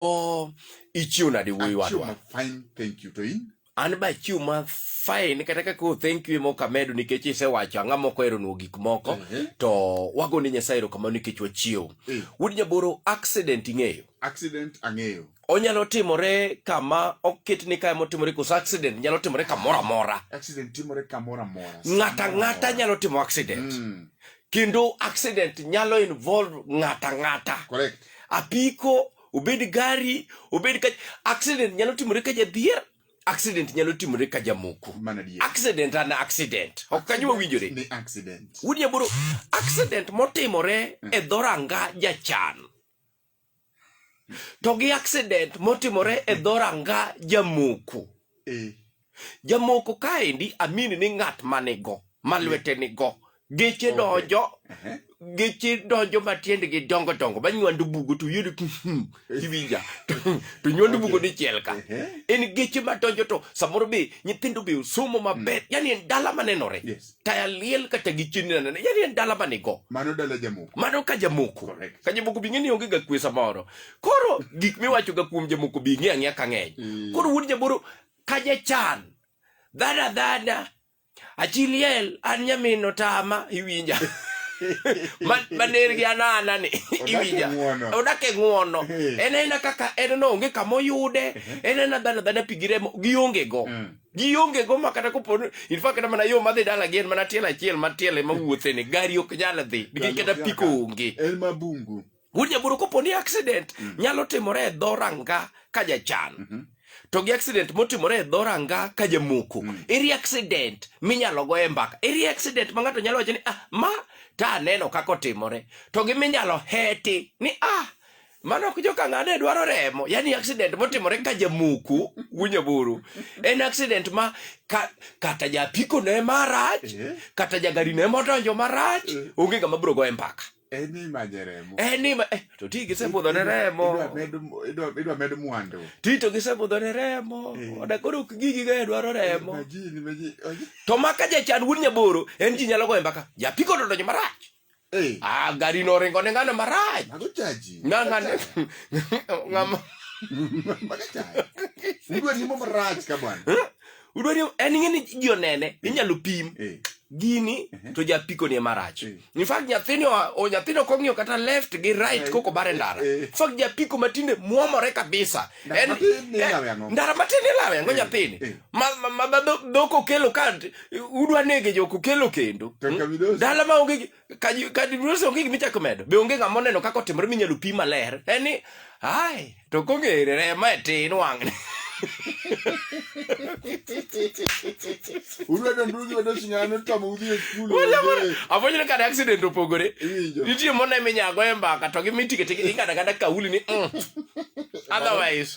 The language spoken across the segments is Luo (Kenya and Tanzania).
Oh, ichiwo nade wuoyi wadwa? Fine, thank you to in. An ba chiw ma fine kata ka ko thank you moka medo nikech isewacho ang'a moko ero nuo gik moko uh -huh. to wago ni Nyasaye ero kamano nikech wachiw. Uh eh. -huh. Wuod Nyaboro accident ing'eyo? Accident ang'eyo. Onyalo timore kama oket ni kama otimore koso accident nyalo timore kamoro amora. Accident timore kamoro amora. Ng'ata ng'ata nyalo timo accident. Mm. kendo accident nyalo involve ng'ata ng'ata correct apiko obed gari obed ka accident nyalo timore ka jadhier accident nyalo timore ka jamoko mana dier accident an accident ok kanyo wawinjore ni accident wuod nyaboro accident motimore e dhoranga jachan to gi accident motimore e dhoranga jamoko eh. jamoko kaendi amini ni ng'at manigo ma lwete nigo geche donjo geche donjo matiendgi dongo dongo banywandu bugo to yudo hmm, kiwinja to nywandu bugo dichiel ka en geche madonjo to samoro be nyithindo be osomo maber mm. yani en dala manenore yes. taya liel kata gi chini na nene yani en dala mane go mano dala jamoko mano ka jamoko Correct. ka jamoko bi ng'eni onge ga kwe samoro koro gik miwacho ga kuom jamoko bi ng'e ang'e ka ng'eny Mm. koro wuod jaboro ka jachan dhana dhana achiliel an nyamino tama iwinja Ma- maner gi anana ni Odak e iwinja ng'wono. odak e ng'wono Eh. en aena kaka en no onge kama oyude en aena dhana dhana pi gi remo gionge go Mm. ji onge go ma kata kopo in fact kata mana yo madhi dala gi en mana tiel achiel ma tiel ema wuothe ni gari ok nyal dhi nikech kata piko onge en ma bungu wuod jaburo kopo ni accident mm. nyalo timore e dho ranga ka jachan mm -hmm. to gi accident motimore e dho ranga ka jamoko mm. eri accident minyalo go e mbaka eri accident ma ng'ato nyalo wacho ni ah ma ta aneno kaka otimore to gi minyalo heti ni ah mano ok joka ng'ane dwaro remo yani accident motimore ka jamuku winyo buru en accident ma ka, kata japiko ne marach Eh. kata jagari ne modonjo marach Eh. onge ng'ama biro goye mbaka En imanye remo. en ni ma- eh, to ti gisebudho ne Idwa remo med idwa idwa med mwandu. ti to gisebudho ne remo Eh. oda koro ok gigi gae dwaro remo Imagine, imagine. to maka jachan wuod nyaboro en ji nyalo goye mbaka japiko to odonjo marach Hey. Ah, gari inorenga onenga na maraji. Makuchaji. Nanga ne. Ngama. Makuchaji. Udwe ni mo maraji ka bwana. Udwe ni en ngene jio nene, inyalo pim. Hey. Gini uh -huh. to ja piko ni marach. Hey. In fact nyathini o nyathino kongiyo kata left gi right hey. koko bare ndara. Hey. In fact ja piko matinde muomore kabisa. Ndara en, matini eh, lawe ango. Ndara matini lawe ango hey. nyathini. Hey. ma, ma, ma, ma dhok okelo ka udwa nege jok okelo kendo hmm? dala ma onge kadidos onge gima ichako medo be onge ng'ama oneno kaka otimore minyalo pi maler en ni ai to kong'ere rema e tin wang'ne afwenyoni kane accident opogore nitie mone minyago e mbaka to gi mitiketiking'ada kata kauli ni mm. otherwise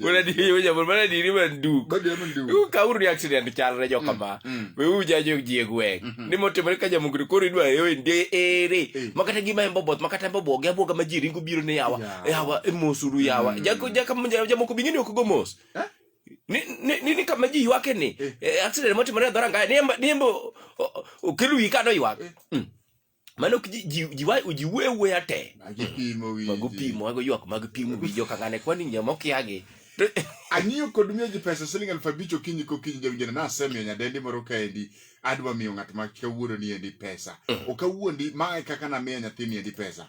Wala di yo jabul mana di ni man du. Ba dia man du. Ku ka uru accident chal re joka ma. We u ja jo ji egwe. Ni mo te ka jamu ku ri dwa yo ndi ere. Makata gi ma embo bot makata embo bo ga bo ga majiri ngu biro ne yawa. Yawa emosuru yawa. Jako jaka mo jamu ku bingini ku gomos. Ni ni ni kama ji wake ni. Accident mo te mara dora ngai. Ni embo ni embo kelu ikado iwak. mano jiwuo e wuoya te mago pimo mago ywak mag pimo wi joka ng'ane kwani nyama okiagi ang'iyo kod miyo ji pesa siling aluf abich okinyi kokinyi jawinjona nasemiyo nyadendi moro kaendi adwa miyo ng'at ma kawuono ni endi pesa mm. okawuondi ma e kaka namiyo nyathini endi pesa